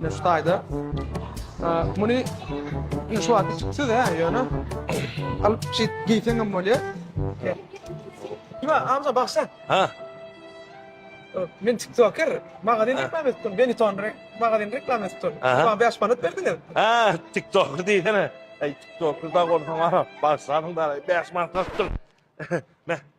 Mesut aýda. Muny şu wagt tutsa da ýöne alyp çit giysen hem bolýar. Kime amca baksa? Ha. Men TikToker, magazin reklam etdim. Beni ton rek, magazin reklam etdim. Bana 5 manat berdiňiz. Ha, TikToker diýsene. Ey, TikToker da gorsan ha. Baksaň da 5 manat tutdum.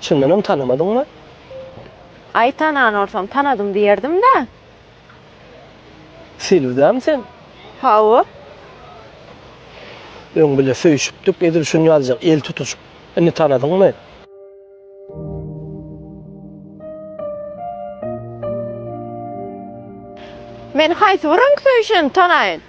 Çyndanam tanamadyňmy? Aý, tanan bolsam, tanadym diýerdim-dä. Selbidämi sen? Hawa. Öň bile söýüşipdik, edil şunýaljak el tutuşyp. Indi tanadyňmy? Men haýsy bir öň söýüşeni tanaýyn?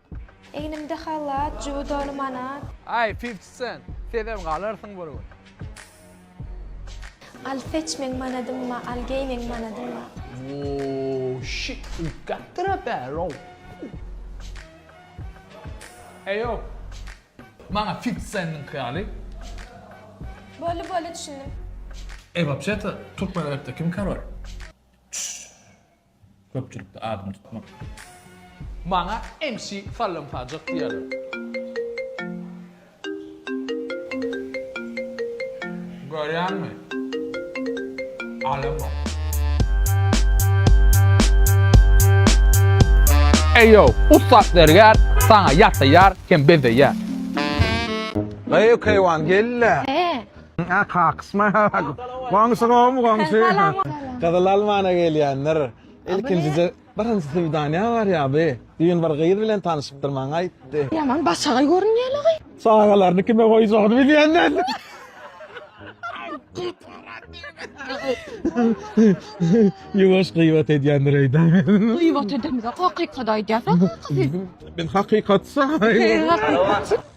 Egnimde halat, jübi doly manat. Aý, Fifty Cent, sezem galarsyň bir gün. Al seç meň manadymma, al geý meň manadymma. Woo, shit, u got to the barrel. Eýo, maňa Fifty Centiňki ýaly. Boldy, boldy, düşündim. Eý, wapşe-to, türkmen repde kim korol? Köpçülikde adyňy tutmak. Maňa MC sallamsajak diýerler. Görýäňmi? Alamok. Eý ýow, ussat zergär saňa ýasaýar hem bezeýär. Eý Keýwan, gel-le! He, Goňşy gowumy goňşy. Gyzyl almana gelýändir. Ilkinjije birinji swidaniýa barýaby. Düýn bir gyz bilen tanyşypdyr maňa aýtdy. Ýaman başagaý görünýäle gyz. Çagalaryny kime goýjagyny bilýän däl. Ýuwaş gybat edýändir öýde. Gybat edemzok hakykaty aýdýas. Biz hakykatsy.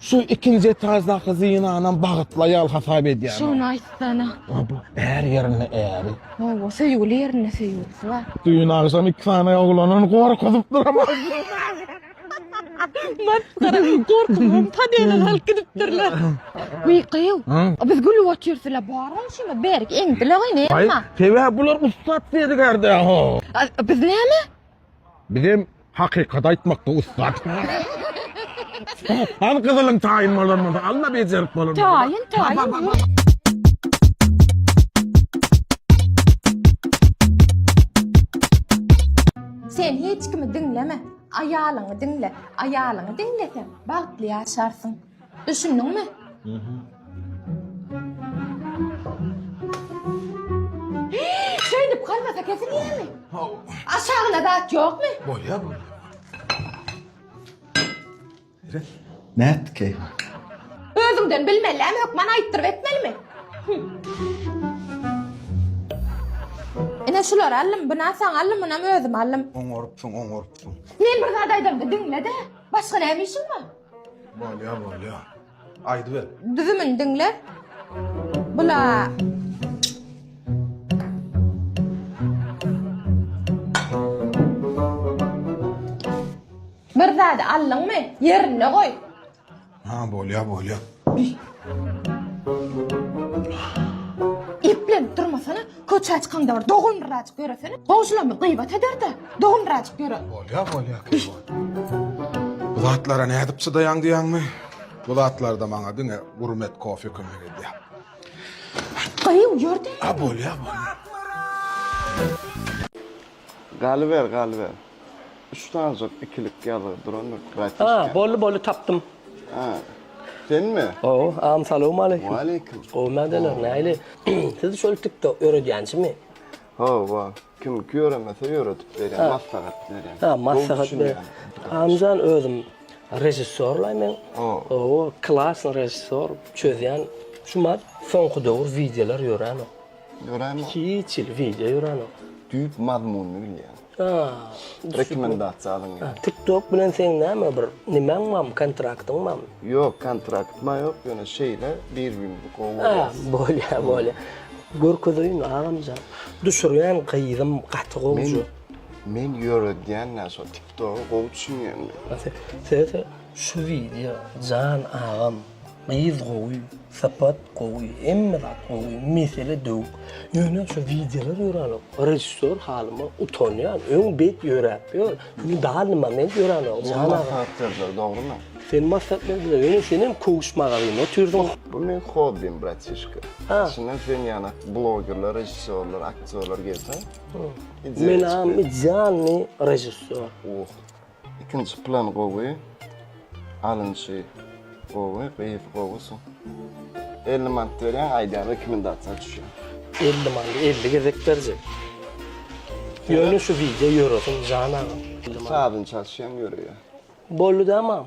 Şu ikinji etajdaky zynanam bagytly aýal hasap edýän. Şony aýtsana. Bu är ýerinde äri. Hawa, söýgüli ýerinde söýgülisi bar. Düýn agşam iki sany oglanyny gorkuzypdyr ama. Masgara, gorkup tadyna galyp gidipdirler. Wiý, gyýw. Biz gülüp otyrsla, barmy şuny berik eňdile gyýn, emma. Sebäp bular ussat zergärde. Biz näme? Bizem Hakykat aýtmakda ussat. Al gyzylyň taýyn bolan bolsa, alma bejerip bolan bolsa. Taýyn, taýyn. Sen hiç kimi diňleme, aýalyňy diňle. Aýalyňy diňleseň, bagtly ýaşarsyň. Düşündiňmi? Şeýdip galmasa kesilýärmi? Aşagyna zat ýokmy? Bolýar bu. Nätdi keý? Özüňden bilmeli-ä, hökman aýtdyryp etmelimi? Ine şulary aldym, buna saňa aldym, munam özüme aldym. Oňarypsyň, oňarypsyň. Men bir zat aýdamda diňle-de. Başga näme işiň bar? Bolýar bolýar. Aýdyber. Düzümini diňle. Bula Bir zady aldyňmy? Ýerinde goý. Ha bolýar bolýar. Eplenip durmasana, köçä çykanda bir dogandyraajyk ýöresene. Goňşylarymyz gyýbat eder-de, dogandyraajyk ýöre. Bolýar, bolýar, Keýwan. Bu zatlara nädip çydaýaň diýýäňmi? Bu zatlarda maňa diňe gurmet kofe kömek edýär. Gyýw, ýör diýýäňmi? A, bolýar, bolýar. Galyber galyber. Üç sanjak ikilik ýazgy durandyr bratişka. Ha, boldy boldy tapdym. Ha. Senmi? Gowy, am salowm aleýkum. Waleýkum. Gowy mädeler, näli? Siz şol TikTok öredýänçimi? Ha, wa. Kim ki ýöremese ýöredip berýän, maslahat berýän. Ha, maslahat ber. Amjan özüm režissýorlaý men. Gowy, klasny režissýor, çözýän. Şu mat soňky döwür wideolar ýöränok. Ýöräýmok. Hiç hili wideo ýöränok. Düýp mazmunyny bilýän. A. Rekomendasiýa alyň ýa. TikTok bilen seň näme bir nimäň barmy kontraktyň barmy? Ýok kontrakt maň ýok ýöne şeýle bir gün gowy görýäs. A bolýa bolýa. Görkezeýin agamjan. Düşürýän gyzym gaty gowja. Men ýöredýän nä şo TikToga gowy düşünýänmi? Söýse şu wideo jan agam. Gyz gowy, sypat gowy, hemme zat gowy, mesele döwük. Ýöne şu wideolar ýöränik, režissýor halyma utanýan, öň bet ýöräp ýör, indi dally moment ýöränik. Sen maslahat berdiler, dogrymy? Sen maslahat berdiler, ýöne senem köwüş magazyny otyrdyň. Bu meň hobbim, bratişka. Içinden sen ýaly blogerler, režissýorlar, aktýorlar gelse, ideýa çykýar. Menam idealnyý režissýor. Uh. Ikinji plan gowy. Alynşy gowy, gyz gowy su. 50 manat berýän, aýdýan rekomendasiýa düşýän. 50 manat 50 gezek berjek. Ýöne şu wideo ýöresin jan agam. Sazyny çalyşýan ýöreýä. Boldy da mam.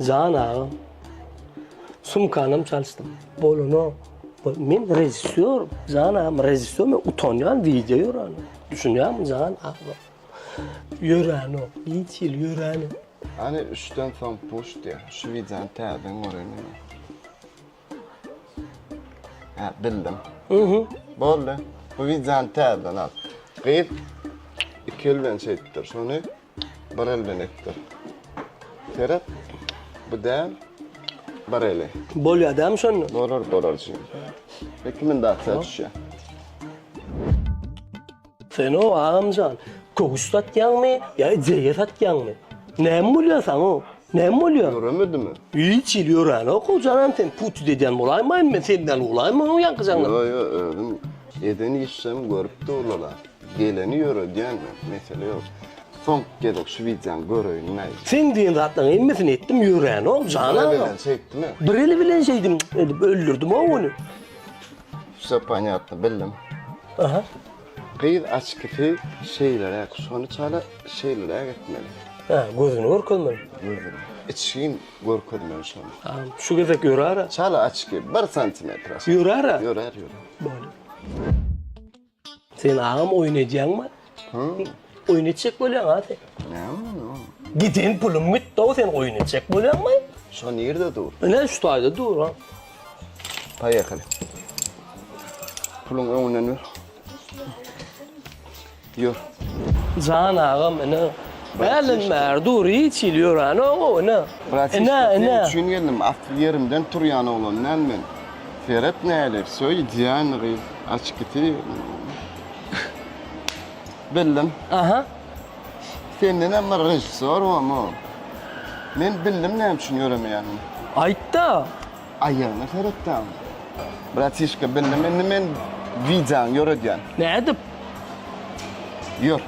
Jan agam. Sumkanam çalyşdym. Bolano. Men rejissýor. Jan agam rejissýor. Men utanýan wideo ýören. Düşünýäňmi jan agam? Ýören ok. Hiç ýyl ýören ok. Hany üçden soň puş diýýär. Şu wideony täzeden göreýin. Hä, bildim. Uhu. Boldy. Bu wideony täzeden al. Gyz iki el bilen şeýtdir. Şony bir el bilen etdir. Seret. Bu däl. Bir eli. Bolýar dämi şonda? Bolar, bolar jigim. Iki mündaçja düşýär. Sen-o, agamjan, köwüş satýaňmy ýa ijege satýaňmy? Näme bolýar saňa? Näme bolýar? Ýöremedimi? Hiç hili ýöränok, hojanan sen putut edýän bolaýmaýyn men senden ulaýmy onuň ýaňky jaňyny? Ýo, ýo, özüm eden işlerimi görüp durlar-a. Geleni ýöredýän men, mesele ýok. Soňky gezek şu wideony göreýin-le. Seň diýen zatlaryň hemmesini etdim, ýöränok, jan agam. Bir eli bilen şeýtdim. Bir eli bilen şeýdim edip öldürdim-ow ony. Vse panyatno bildim. Aha. Gyz açkisi şeýleräk, şony çala şeýleräk etmeli. Hä, gözüni görkezmeli. Gözüni. Içgin görkezmeli şony. A, şu gezek ýörara. Çala açki, bir santimetr. Ýörara? Ýörer, ýörer. Bolýa. Sen agam oýun edýäňmi? Oýun etjek bolýaňa sen. Giden pulum gitdi-ow sen oýun etjek bolýaňmy? Şo nirde dur? Ine şu taýda dur ha. Paýekali. Puluň öňünden ýör. Ýör. Jan agam ine. Hälden bäri dur hiç hili ýöränoň-ow ine. Ine ine. Sen üçin geldim. Asly ýerimden turýan oglan däl men. Seret näler söýýän gyz. Açkisi bildim. Aha. Senden hem bir režissýor bormy? Men bildim näme üçin ýöremeýänini. Aýt-da. Aýagyna seretdäň. Bratişka bildim indi men wideoňy ýöredýän. Nädip? Ýör.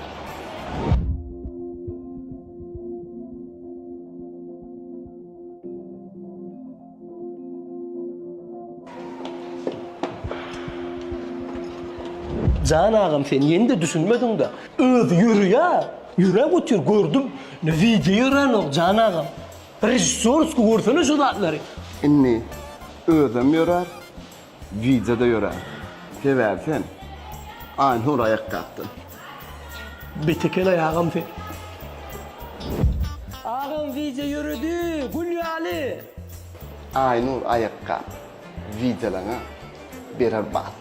Jan agam sen ýende düşünmediňda öz ýörýä ýüre götür gördüm ne wideo ýörenok jan agam režissýorsky görsene şu zatlary. Indi özem ýörer. Gijede ýöre. Sebäbi sen Aýnur aýakgapdan. Bet eken aý agam sen. Agam wideo ýöredi gül ýaly. Aýnur aýakgap wideolaňa berer bat.